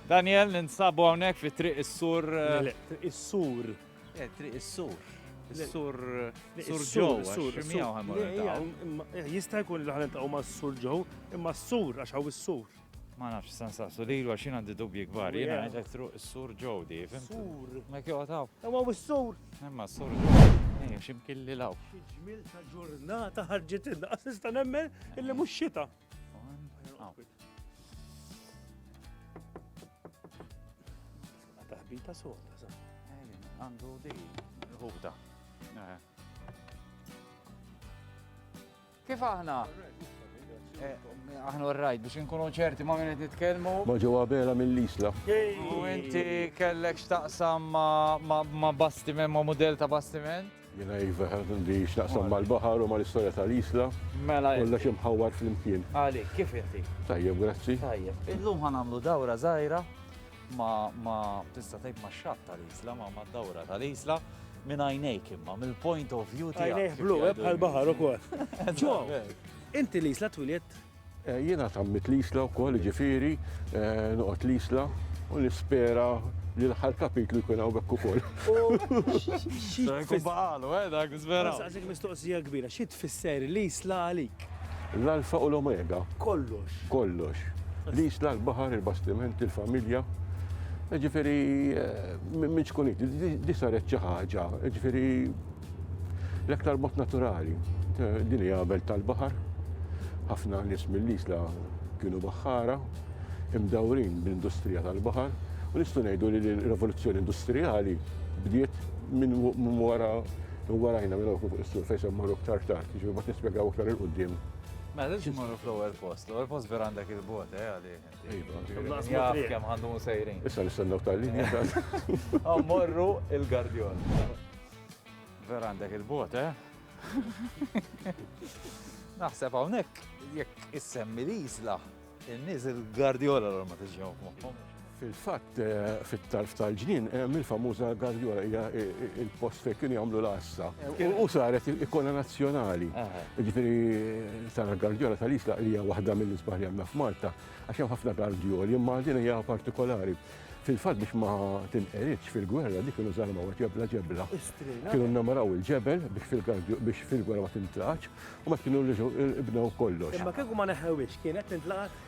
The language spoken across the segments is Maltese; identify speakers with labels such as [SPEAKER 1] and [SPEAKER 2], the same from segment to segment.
[SPEAKER 1] Daniel, ninsabu hawnhekk fi Triq is-Sur. Triq is-Sur.
[SPEAKER 2] Eh, Triq
[SPEAKER 1] is-Sur. Sur Sur
[SPEAKER 2] Joe, Sur
[SPEAKER 1] Jista'
[SPEAKER 2] jkun li ħanet taqgħu ma' Sur Joe, imma Sur għax hawn is-Sur. Ma nafx san
[SPEAKER 1] saqsu li l xin għandi dubji kbar, jena għedek truq s-sur ġodi, fim? Sur. Ma kjo għataw.
[SPEAKER 2] Imma
[SPEAKER 1] u s-sur.
[SPEAKER 2] Imma s-sur
[SPEAKER 1] ġodi. Ejja, ximkilli law. Ġmil ta'
[SPEAKER 2] ġurnata ħarġet inna, għasista nemmen illi mux xita. Taħbita soda, sa. Għandu
[SPEAKER 1] di. Ħubda. Eh. Kif aħna? Eh, aħna rajt biex nkunu ċerti ma minnet nitkelmu. Ma ġewwa bela
[SPEAKER 3] mill-isla. U inti
[SPEAKER 1] kellek x'taqsam ma bastiment, ma model ta' bastiment? Jiena iva
[SPEAKER 3] għandi x'naqsam mal-baħar u mal-istorja tal-Isla. Mela. Kollha xi
[SPEAKER 1] mħawwar
[SPEAKER 3] flimkien. Għalik, kif inti?
[SPEAKER 1] Tajjeb, grazzi.
[SPEAKER 3] Tajjeb. Illum ħa
[SPEAKER 1] nagħmlu dawra żgħira ma tista' tgħid ma' xatt tal-Isla, ma ma' dawra tal-Isla minn għajnejk imma, mill-point of view tiegħek. Għajnejk blu, eh, bħal baħar
[SPEAKER 2] ukoll. Ġo, inti l-isla twilet Jiena tgħammidt
[SPEAKER 3] l-Isla wkoll, jiġifieri noqgħod l-Isla u nispera li l-aħħar kapitlu jkun hawn hekk ukoll. Jkun
[SPEAKER 1] baqalu, eh, dak nispera. Nsaqsik mistoqsija
[SPEAKER 2] kbira, xi tfisser l-Isla għalik? L-Alfa u
[SPEAKER 3] l-Omega. Kollox.
[SPEAKER 2] Kollox.
[SPEAKER 3] L-Isla, l-baħar, il-bastiment, il-familja. Jiġifieri minn xkun di saret xi ħaġa, jiġifieri L-aktar mod naturali, din hija belt tal-baħar, ħafna nies mill-isla kienu baħħara, imdawrin bl-industrija tal-baħar, u nistgħu ngħidu li l-rivoluzzjoni industrijali bdiet minn wara warajna minn fuq is-sur fejn se mmorru aktar tard, jiġifieri ma nispjegaw aktar il-qudiem. Mela lil x'morru
[SPEAKER 1] fl-ewwel post, l-ewwel post vera għandek il-bot, eh għalih. Iva.
[SPEAKER 2] Jaf kemm għandu
[SPEAKER 1] sejrin.
[SPEAKER 2] Issa
[SPEAKER 1] nistennew tal-linja. Morru il-Gardjon. Vera għandek il-bot, eh? Naħseb hawnhekk jekk issemmi li jisla, in-nies il-Guardiola l ma tiġihom moħħom. Fil-fatt
[SPEAKER 3] eh, fit-tarf tal-ġnien hemm eh, il-famuża Guardiola hija eh, il-post fejn kienu jagħmlu l-għassa. U saret il-ikona nazzjonali. Ġifieri tara Guardiola tal-isla hija waħda mill-isbaħ li għandna f'Malta għax hemm ħafna Guardioli imma din hija partikolari. Fil-fatt biex ma tinqeridx fil-gwerra dik kienu żarmaw ġebla ġebla. Kienu nnamaraw il-ġebel biex fil-gwerra ma tintraċ u ma kienu rriġu ibnew kollox. Imma kieku ma neħewix
[SPEAKER 2] kienet tintlaqat?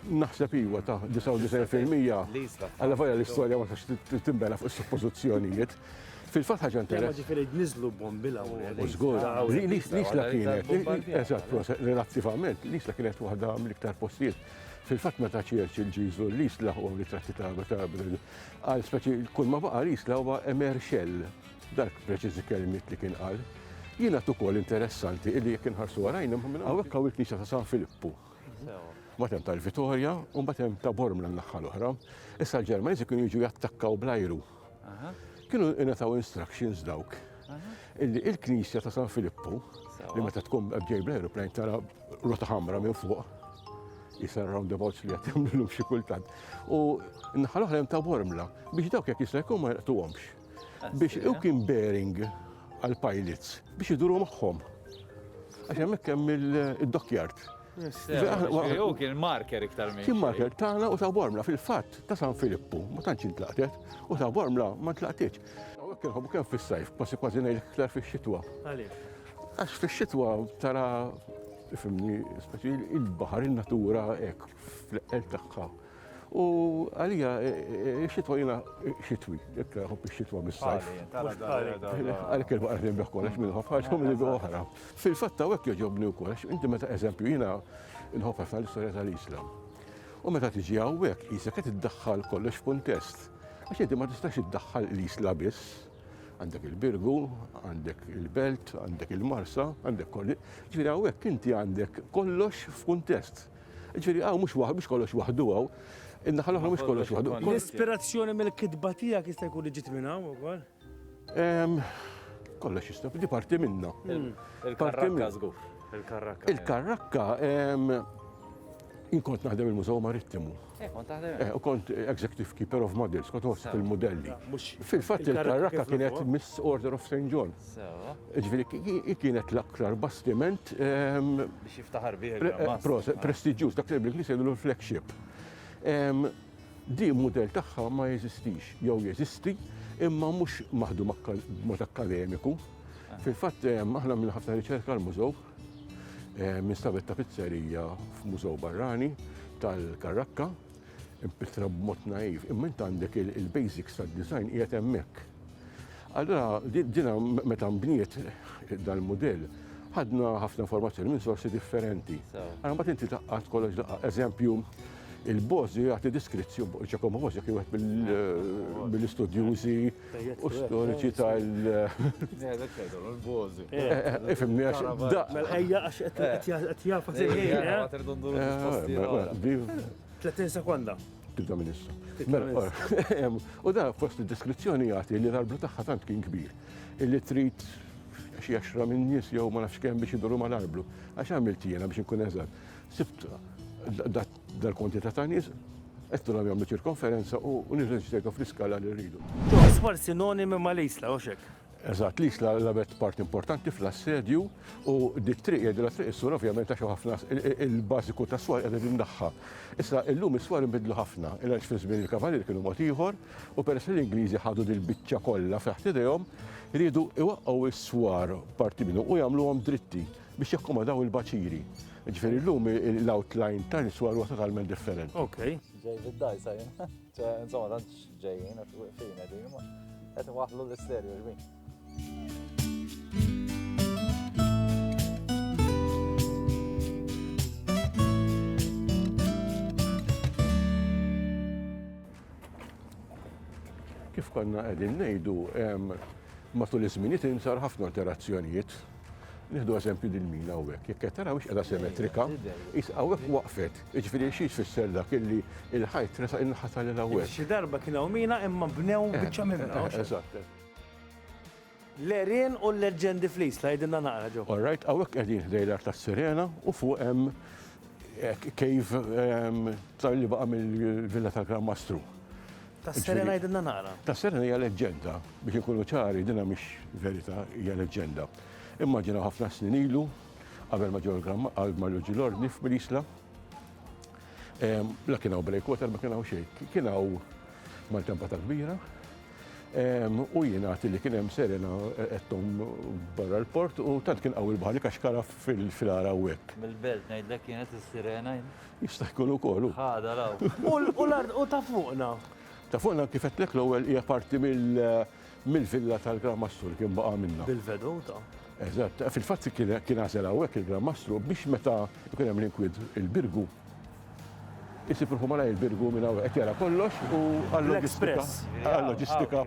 [SPEAKER 2] Naħseb
[SPEAKER 3] iwa ta' 99% għalla vajja l-istorja ma tax timbena fuq suppożizzjonijiet. Fil-fatt ħaġa interessanti. Ġifieri niżlu
[SPEAKER 2] bombila u żgur.
[SPEAKER 3] L-isla kienet, eżatt, relattivament, l-isla kienet waħda mill-iktar postijiet Fil-fatt meta Churchill ġie jżur l-isla u ritratti ta' Abertabel, qal speċi kull ma baqa' l-isla huwa emer xell. Dak preċiżi kelmiet li kien qal. Jiena ukoll interessanti illi jekk inħarsu warajna minn hawnhekk hawn il-knisja ta' San Filippu. Mbagħad hemm tal-Vitorja u mbagħad hemm ta' Bormla n-naħħa l-oħra. Issa l-Ġermaniżi kienu jiġu jattakkaw bl-ajru. Kienu ingħataw instructions dawk illi il-Knisja ta' San Filippu li meta tkun ġej bl-aeroplane tara rota ħamra minn fuq jisar roundabouts li għat jamlu xi kultant. U nħal oħra ta' bormla biex dawk jek jista' jkun ma jaqtuhomx. Biex u kien bearing għal pilots biex iduru magħhom. Għax hemmhekk hemm il-dockyard. Hu kien marker
[SPEAKER 1] iktar minn. Kien marker tagħna u ta'
[SPEAKER 3] Bormla fil-fatt ta' San Filippu, ma tantx intlaqtet, u ta' Bormla ma tlaqtitx. Hawnhekk inħobbu kemm fis-sajf, kważi kważi ngħid iktar fix-xitwa. Għaliex? Għax fix-xitwa tara, tifhimni, speċi il-baħar, in-natura hekk fl-eqqel tagħha. U għalija xitwa jina xitwi, jekk nħobb xitwa mis-sajf. Għalik kelma għarfin bih kollox minn ħobb ħaġa minn idu oħra. Fil-fatta għek joġobni u kollox, inti meta eżempju jina nħobb ħafna l-istoria tal-Islam. U meta tiġi għawek, jisa qed iddaħħal kollox f'kuntest. Għax inti ma tistax iddaħħal l-Isla biss. Għandek il-Birgu, għandek il-Belt, għandek il-Marsa, għandek kolli. Ġifieri hawnhekk inti għandek kollox f'kuntest. Ġifieri hawn mhux waħ, mhux kollox waħdu hawn. In-naħa l-oħra mhux kollox waħdu. L-ispirazzjoni
[SPEAKER 2] mill-kitba tiegħek jista' jkun li ġiet minn hawn ukoll?
[SPEAKER 3] Kollox jista', di parti minnha. Il-karrakka
[SPEAKER 1] żgur. Il-karrakka. Il-karrakka,
[SPEAKER 3] jien kont naħdem il-Mużew Marittimu. Eh, kont taħdem. Eh,
[SPEAKER 1] u kont executive
[SPEAKER 3] keeper of models, kont għost il-modelli. Fil-fatt il-karraka kienet Miss Order of St. John. Ġviri, kienet l-aktar bastiment. Ehm, Biex
[SPEAKER 1] jiftaħar
[SPEAKER 3] bih. Eh,
[SPEAKER 1] Prestiġjuż,
[SPEAKER 3] dak li bl-Inglis
[SPEAKER 1] jgħidu l-flagship. Ehm,
[SPEAKER 3] di model tagħha ma jeżistix, jew jeżisti, imma mhux maħdu mod akademiku. Ah. Fil-fatt, ehm, aħna minn ħafna riċerka l-mużew, Eh, minn stabet ta' pizzerija f'mużew barrani tal-Karrakka, impitra b'mod naiv, imma int għandek il-basics tad-design qiegħed hemmhekk. Allora, dina meta mbniet dal-modell, ħadna ħafna informazzjoni minn sorsi differenti. Għana bat inti taqqat kollox daqqa, eżempju, il-bozi għati diskrizzju, ġakomu bozi kien għat mill-istudjuzi eh, u storiċi tal.
[SPEAKER 1] Ifimni għax.
[SPEAKER 3] Ejja għax
[SPEAKER 2] qed jafa Tletin sekonda. Tibda minn issa.
[SPEAKER 3] Mela, u da fost id-deskrizzjoni jagħti li l-arblu tagħha tant kien kbir illi trid xi għaxra minn nies jew ma nafx kemm biex idoru mal-arblu. Għax għamilt jiena biex inkun eżatt. Sibt Dal-kwantità ta' nies qed nilgħu jagħmlu ċirkonferenza u nirreġistrejtha fl-iskala li rridu. Iswar sinonimi
[SPEAKER 2] ma' l-Isla, hux hekk? Eżatt, l-Isla
[SPEAKER 3] lagħbet parti importanti fl-assedju u dik triq jgħidilha Triq is-Swar ovvjament għax hawn ħafna il-bażiku tas-swar qiegħda din naħħa. Issa illum is-swar inbidlu ħafna, il għaliex fi żmien il-Kavalieri kienu mod ieħor u peress li l-Ingliżi ħadu dil-biċċa kollha taħt idejhom, riedu jwaqqgħu s-swar, parti minnhom, u jagħmluhom dritti. biex jakkomodaw il-baċiri. Ġifieri llum l-outline ta' niswa huwa totalment differenti. Ok. Ġej
[SPEAKER 2] bid-dajsa
[SPEAKER 1] jien. Insomma, tant ġejjin qed wieqfin qegħdin ma qed waħlu l-isterju ġbin.
[SPEAKER 3] Kif konna qegħdin ngħidu matul iż-żminijiet insar ħafna alterazzjonijiet Nieħdu eżempju din mina hawnhekk, jekk qed taraw qiegħda simetrika, is hawnhekk waqfet. Jiġifieri xi tfisser dak illi il-ħajt tresa inħata lil hawnhekk. Xi darba kien hawn mina
[SPEAKER 2] imma bnew eh, biċċa minna. Eh, eżatt.
[SPEAKER 3] L-erien
[SPEAKER 2] u l-leġġendi flis, tgħidilna naqra ġew. All right, hawnhekk qegħdin
[SPEAKER 3] ħdej l-art tas-sirena u fuq hemm Cave tar li baqa' mill-Villa tal-Gran Mastru. Tas-Serena
[SPEAKER 2] jidinna nara. Tas-Serena hija leġġenda,
[SPEAKER 3] biex ikunu ċari, dinha mhix verità, hija leġġenda. Immaġina ħafna snin ilu, qabel ma ġew għal ma ġew l-ordni f'Mirisla, la kien hawn breakwater, ma kien hawn xejn. Kien hawn maltempata kbira, U jingħad li kien hemm serena qedthom barra l-port u tant kien qawwi l-baħar li kaxkara fil-għar hawnhekk. Mill-belt ngħidlek kienet
[SPEAKER 1] is-sirena jien. Jista' jkun
[SPEAKER 3] ukoll hu. Ħadha l-hawn.
[SPEAKER 1] U l-art u ta'
[SPEAKER 2] fuqna? Ta' fuqna kif
[SPEAKER 3] għedtlek l-ewwel hija parti mill-villa tal-Gran Mastru li kien baqa' minnha. Bil-veduta?
[SPEAKER 2] Eżatt.
[SPEAKER 3] Fil-fatt kien għażel hawnhekk il-Gran Mastru biex meta jkun hemm l-inkwiet il-Birgu. Isib ruħu malajr birgu minn hawn qed jara kollox u għall-loġistika. Għall-loġistika.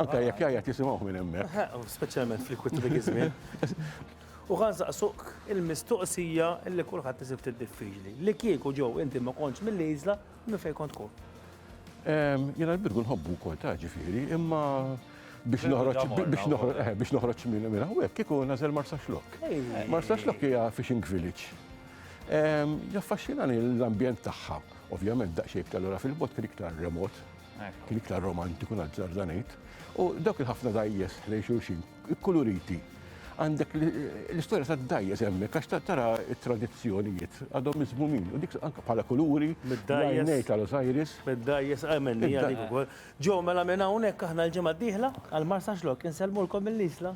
[SPEAKER 3] Anke jekk jgħajja tisimgħuh minn hemmhekk. Speċjalment fl-ikwit
[SPEAKER 2] dik iż-żmien. U ħa nsaqsuk il-mistoqsija li kulħadd isib ftit diffiċli. Li kieku ġo inti ma kontx mill-Iżla, minn fejn kont tkun?
[SPEAKER 3] Jiena l-birgu nħobbu wkoll ta' ġifieri, imma biex noħroġ minn hawnhekk kieku nagħżel Marsaxlokk. Marsaxlokk hija fishing village. Jaffaxxinani l-ambjent tagħha. Ovvjament daqsxejn iktar lura fil-bot kien iktar remot, kien iktar romantiku nazzarda ngħid. U dawk il-ħafna dajjes lejn xulxin, ikkuluriti. Għandek l-istorja ta' dajjes hemmhekk għax tara t-tradizzjonijiet għadhom miżmumin. U dik anke bħala kuluri, ngħid għal Osiris. Mid-dajjes, għamenni
[SPEAKER 2] għalik ukoll. Ġo, mela minn hawnhekk aħna l-ġimgħa d-dieħla għal Marsaxlokk insellmulkom mill-Isla.